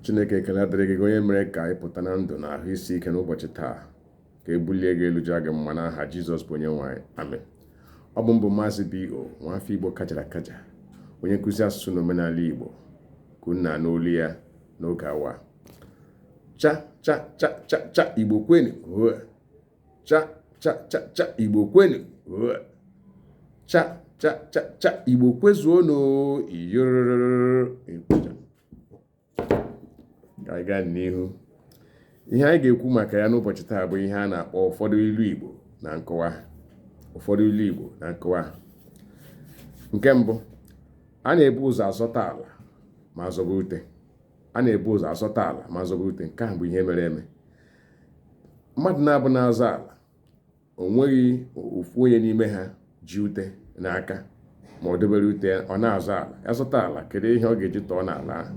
chineke ekele adịrị gị onye mere ka anyị pụta na ndụ na ahụ isi ike n'ụbọchị taa ka e bulie gị elu jaa gị mma n'aha jizọs bụ onye nwe anyị amen ọ bụ m bụ maazị bo nwafọ igbo kajara akaja onye nkụzi asụsụ na omenala igbo ka unu na-anụ olu ya n'oge awa cha cha cha cha cha igbo kwenu cha cha cha cha igbo kwenu cha cha cha cha igbo kwezuonu ka anyị gaa n'ihu ihe anyị ga-ekwu maka ya n'ụbọchị taa bụ ihe a na-akpọ ụfọdụ ilu igbo na nkọwa ụfọdụ ilu igbo na nkọwa nke mbụ a na-ebu ụzọ azọta ala ma zọba ute a na-ebu ụzọ azọta ala ma zọba ute nke a bụ ihe mere eme mmadụ naabọ na-azọ ala o nweghị ofu onye n'ime ha ji ute n'aka ma ọ debere ute ọ na-azọ ala ya zọta ala kedu ihe ọ ga-eji tọọ n'ala ahụ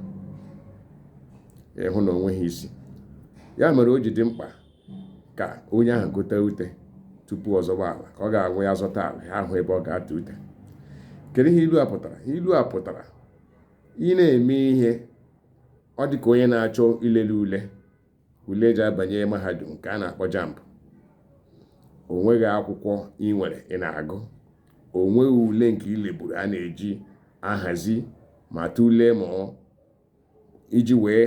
ị hụ na o nweghị isi ya mere o ji dị mkpa ka onye ahụ gote ute tupu ọ zọba ala ka ọ ga-abụ ya zọta ala ya ahụ ebe ọ ga-atọ ute kedu ihe ilu a pụtara ilu a pụtara ị na-eme ihe ọ dị ka onye na-achọ ilele ule ule e ji abanye mahadum nke a na-akpọ jamb o nweghị akwụkwọ ị nwere ị na-agụ o nweghị ule nke i leburu a na-eji ahazi ma tụlee ma iji wee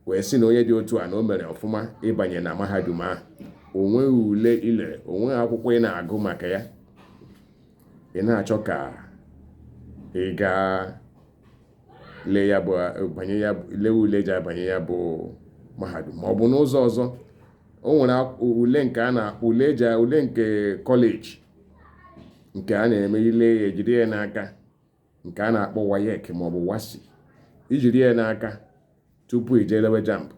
wee sị na onye dị otu a na o mere ọfụma ịbanye na mahadum ahụ o nweghị ule i lere o nweghị akwụkwọ ị na-agụ maka ya ị na-achọ ka ị gaa lee ya bụ banye ya lee ule ji abanye ya bụ mahadum ma ọ bụ n'ụzọ ọzọ o nwere ak- ule nke a na ule eji ule nke kọleji nke a na-eme i lee ya ejide ya n'aka nke a na-akpọ waec ma ọ bụ wassce i jiri ya n'aka tupu i je lewe jamb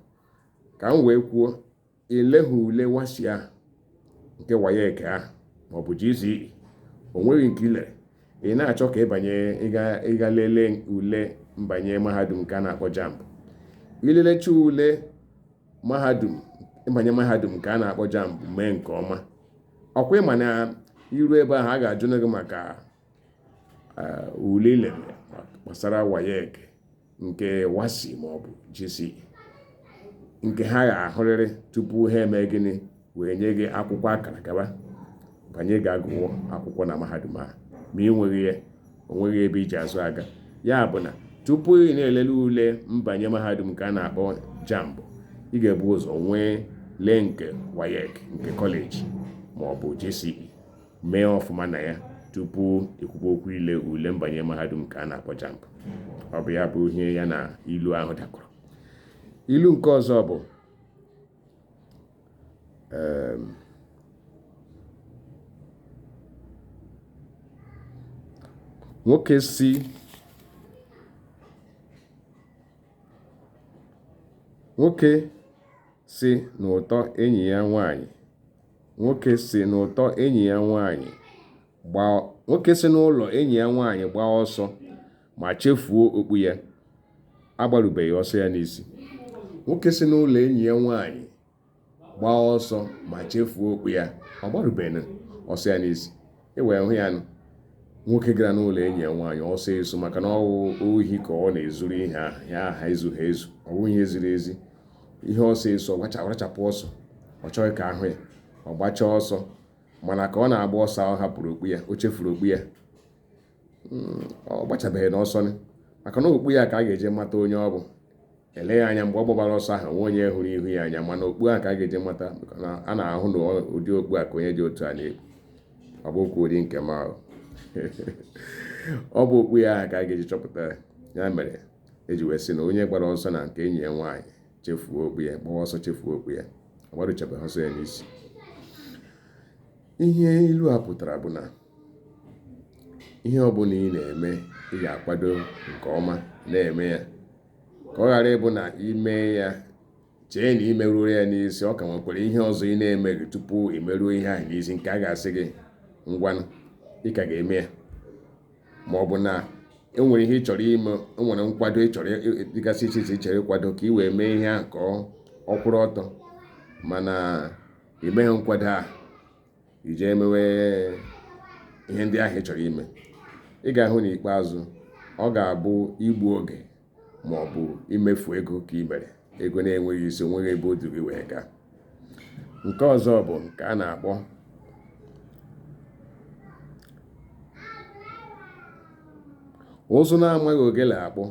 ka m wee kwuo ị lehụ ule WASSCE ahụ nke WAEC ahụ maọbụ GCE o nweghị nke i lere ị na-achọ ka ị banye ị gaa lelee ule mbanye mahadum nke a na-akpọ JAMB i lelecha ule mahadum ịbanye mahadum nke a na-akpọ JAMB mee nke ọma ọ kwa ị ma na iru ebe ahụ a ga-ajụ gị maka ule i lere gbasara waec nke wassce ma ọ bụ gce nke ha ga-ahụrịrị tupu ha eme gịnị wee nye gị akwụkwọ akara gaba banye gaa gụwa akwụkwọ na mahadum a ma ị nweghị ya o nweghị ebe i ji azụ aga ya bụ na tupu ị na-elele ule mbanye mahadum nke a na-akpọ jamb ị ga-ebu ụzọ nwee lee nke waec nke kọleji ma ọ bụ gce mee ọfụma na ya tupu ekwukwa okwu ile ule mbanye mahadum ka a na-akpọ jamb ọ bụ ya bụ ihe ya na ilu ahụ dakọrọ ilu nke ọzọ bụ ehm, nwoke si nwoke si n'ụtọ enyi ya nwanyị Nwoke si n'ụtọ enyi ya nwaanyị gbaa nwoke si n'ụlọ enyi ya nwaanyị gbaa ọsọ ma chefuo okpu ya agbarubeghị ọsọ ya n'isi nwoke si n'ụlọ enyi ya nwaanyị gbaa ọsọ ma chefuo okpu ya agbarubeghị ọsọ ya n'isi e wee hụ ya nwoke gara n'ụlọ enyi ya nwaanyị ọsọ esu maka na ọwụ ohi ka ọ na-ezuru ihe ahụ ezughị ezu ọ bụghị ihe ziri ezi ihe ọsọ esu ọ rachapụ ọsọ ọ chọghị ka a hụ ya ọ gbachaa ọsọ mana ka ọ na-agba ọsọ ọ hapụrụ okpu ya o chefuru okpu ya hmm, ọ gbachabeghịnụ ọsọ maka na okpu ya ka a ga-eji mata onye ọ bụ eleghị anya mgbe ọ gbabara ọsọ ahụ onweghị onye hụrụ ihu ya anya mana okpu a ka a ga-eji mata na a na-ahụ na ụdị okpu a ka onye dị otu a na-ekpu ọ bụ okpu ụdị nke m ahụ ọ bụ okpu ya ahụ ka a ga-eji chọpụta ya mere eji wee sị na onye gbara ọsọ na nke enyi ya nwaanyị chefuo okpu ya gbawa ọsọ chefuo okpu ya agbaruchabeghị ọsọ ya n'isi ihe ilu a pụtara bụ na ihe ọbụla ị na-eme ị ga-akwado nke ọma na-eme ya ka ọ ghara ịbụ na ime ya chee na imeruru ya n'isi ọ ka nwekwara ihe ọzọ ị na-emeghị tupu imeruo ihe ahụ n'isi nke a ga-asị gị ngwanụ ị ka ga-eme ya ma ọ bụ na enwere ihe ị chọrọ ime enwere nkwado dịgasị iche iche chere ịkwado ka ị wee mee ihe ahụ ka ọ kwụrụ ọtọ mana imeghị nkwado ahụ i jee mewe ihe ndị ahụ ị chọrọ ime ị ga-ahụ n'ikpeazụ ọ ga-abụ igbu oge ma ọ bụ imefu ego ka ị mere ego na-enweghị isi onweghị ebe o duru gị wee gaa nke ọzọ bụ nke a na-akpọ ụzụ na-amaghị ogele akpụ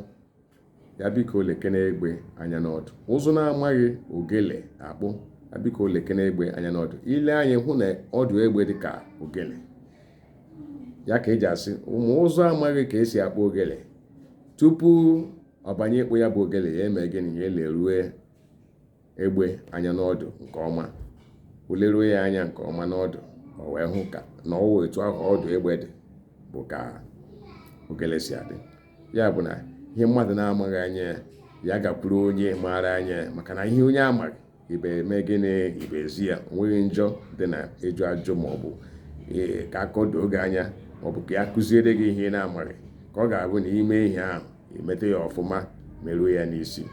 ya biko lekene egbe anya n'ọdụ ụzụ na-amaghị ogele akpụ ya biko lekene egbe anya n'ọdụ ilee anya ị hụ na ọdụ egbe dị ka ogele ya ka eji asị ma ụzụ amaghị ka esi akpụ ogele tupu ọbanye ịkpụ ya bụ ogele ya mee gịnị ya elerue egbe anya n'ọdụ nke ọma o leruo ya anya nke ọma n'ọdụ o wee hụ ka na ọwụ etu ahụ ọdụ egbe dị bụ ka ogele si adị ya bụ na ihe mmadụ na-amaghị anya ya ya gakwuru onye maara anya ya maka na ihe onye amaghị ibe eme gịnị ibe ezi ya onweghị njọ dị na ịjụ ajụ maọbụ ee ka akọdoo gị anya maọbụ ka a kụziere gị ihe ị na-amaghị ka ọ ga-abụ na i mee ihe ahụ i meta ya ọfụma meruo ya n'isi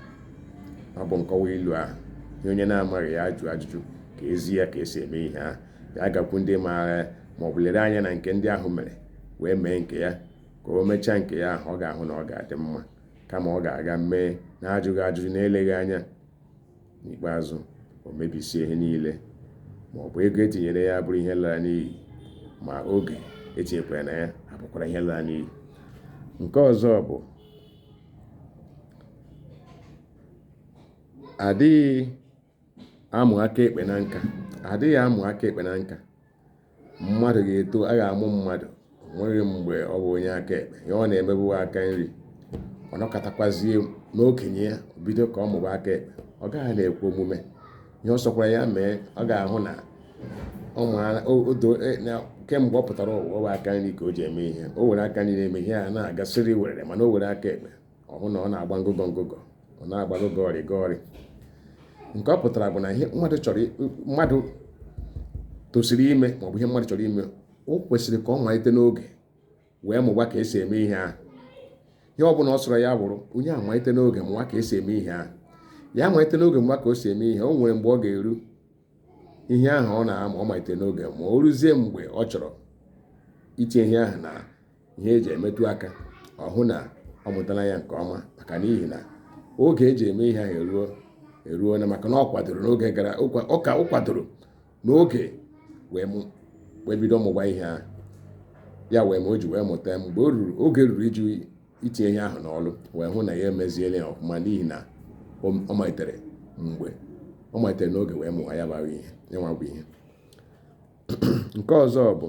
ọ bụ nkọwa ilu ahụ ihe onye na-amaghị ya jụọ ajụjụ ka ezi ya ka esi eme ihe ahụ ya gakwu ndị maara ya ma ọ bụ lere anya na nke ndị ahụ mere wee mee nke ya ka o mechaa nke ya ahụ ọ ga-ahụ na ọ ga-adị mma kama ọ ga-aga mee na ajụghị ajụjụ na eleghị anya n'ikpeazụ o mebisie ihe niile ma ọ bụ ego etinyere ya bụrụ ihe lara n'iyi ma oge etinyekwara na ya abụkwara ihe lara n'iyi nke ọzọ bụ adịghị amụ aka ekpe na nka adịghị amụ aka ekpe na nka mmadụ ga-eto a ga-amụ mmadụ onweghị mgbe ọ bụ onye aka ekpe ihe ọ na-eme bụ aka nri ọ nọkatakwazie n'okenye ya o bido ka ọ mụba aka ekpe ọ gaghị na-ekwe omume ihe ọ sọkwara ya mee ọ ga-ahụ na e, kemgbe ọ pụtara ụwa ọ bụ aka nri ka o ji eme ihe o were aka nri na-eme ihe a na-aga siri were mana o were aka ekpe ọ hụ na ọ na-agba ngọgọ ngọgọ ọ na-agba gọgọrị gọrị nke ọ pụtara bụ na ihe mmadụ chọrọ mmadụ tosiri ime ma ọ bụ ihe mmadụ chọrọ ime o kwesịrị ka ọ malite n'oge wee mụwa ka esi eme ihe ahụ ihe ọ bụla ọ sọrọ ya bụrụ onye a malite n'oge mụwa ka esi eme ihe ahụ ya malite n'oge mụwa ka o si eme ihe o nwere mgbe ọ ga-eru ihe ahụ ọ na-ama ọ malite n'oge ma o ruzie mgbe ọ chọrọ itinye ihe ahụ na ihe eji emetụ aka ọ hụ na ọ mụtara ya nke ọma maka n'ihi na oge eji eme ihe ahụ eruona maka na ọ kwadoro n'oge gara ụka ọ kwadoro n'oge wee bido mụwa ihe ahụ ya wee ma o ji wee mụta mgbe o ruru oge ruru iji itinye ihe ahụ n'ọlụ wee hụ na ya emeziela ya ọfụma n'ihi na ọ malitere mgbe ọ malitere n'oge wee mụwa ya bara ihe ya nwa bụ ihe nke ọzọ bụ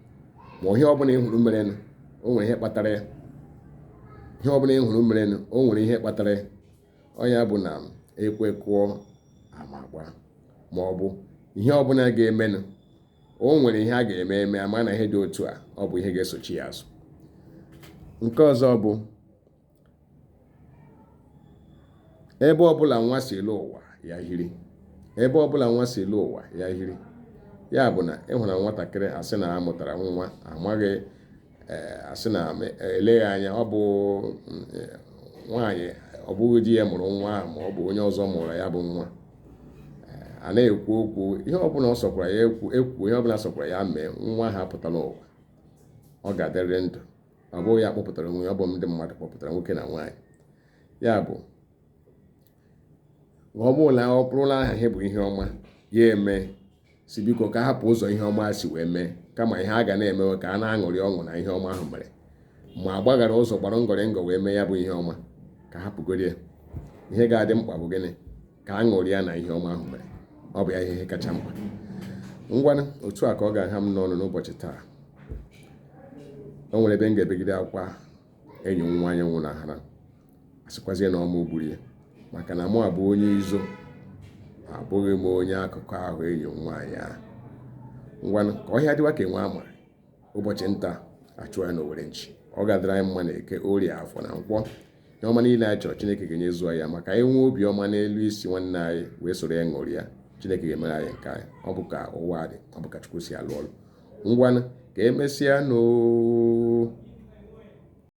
ma ihe ọbụla ịhụrụ merenụ o nwere ihe kpatara ya ihe ọbụla ịhụrụ merenụ o nwere ihe kpatara ya ọ ya bụ na ekwe kụọ ama agbaa ma ọ bụ ihe ọbụla ga-emenụ o nwere ihe a ga-eme eme ama na ihe dị otu a ọ bụ ihe ga-esochi ya azụ nke ọzọ bụ ebe ọbụla nwa si lọ ụwa ya hiri ebe ọbụla nwa si lọ ụwa ya hiri ya bụ na ịhụna nwatakịrị asị na amụtara nwa amaghị eh, asị na eleghị anya ọ bụ eh, nwaanyị ọ bụghị di ya mụrụ nwa ahụ ma ọ bụ onye ọzọ mụrụ ya bụ nwa eh, a na-ekwu okwu ihe ọbụla ọ sọkwara ya ekwu ekwu ihe ọbụla sọkwara ya mee nwa ahụ pụta n'ụwa ọ ga-adịrịrị ndụ ọ bụghị ya kpọpụtara onwe ya ọ bụ ndị mmadụ kpọpụtara nwoke na nwaanyị ya bụ ọ bụrụ na ọ bụrụla aha ha bụ ihe ọma ya eme sị biko ka a hapụ ụzọ ihe ọma si wee mee kama ihe a ga na-emewe ka a na-aṅụrị ọṅụ na ihe ọma ahụ mere ma gbaghara ụzọ gbara ngọrị ngọ wee mee ya bụ ihe ọma ka a hapụgodi ya ihe ga-adị mkpa bụ gịnị ka a ṅụrịa na ihe ọma ahụ mere ọ bụ ya ihe kacha mkpa ngwanụ otu a ka ọ ga-aha m n'ọnụ n'ụbọchị taa o nwere ebe m ga-ebegide akwa enyi m nwaanyị nwụnahara a sịkwazie na ọ mụwa gburu ya maka na mụ abụ onye izo abụghị m onye akụkọ ahụ enyi m nwaanyị ahụ ngwanụ ka ọhịa dịwa ka enwe ama ụbọchị nta a chụọ ya n'owere nchi ọ ga-adịrị anyị mma na eke orie afọ na nkwọ ihe ọma niile anyị chọrọ chineke ga-enyezuo ya maka anyị nwee obiọma n'elu isi nwanne anyị wee soro ya ṅụrịa chineke ga-emere anyị nke anyị ọ bụ ka ụwa dị ọ bụ ka chukwu si alụ ọlụ ngwanụ ka emesịa nụ oo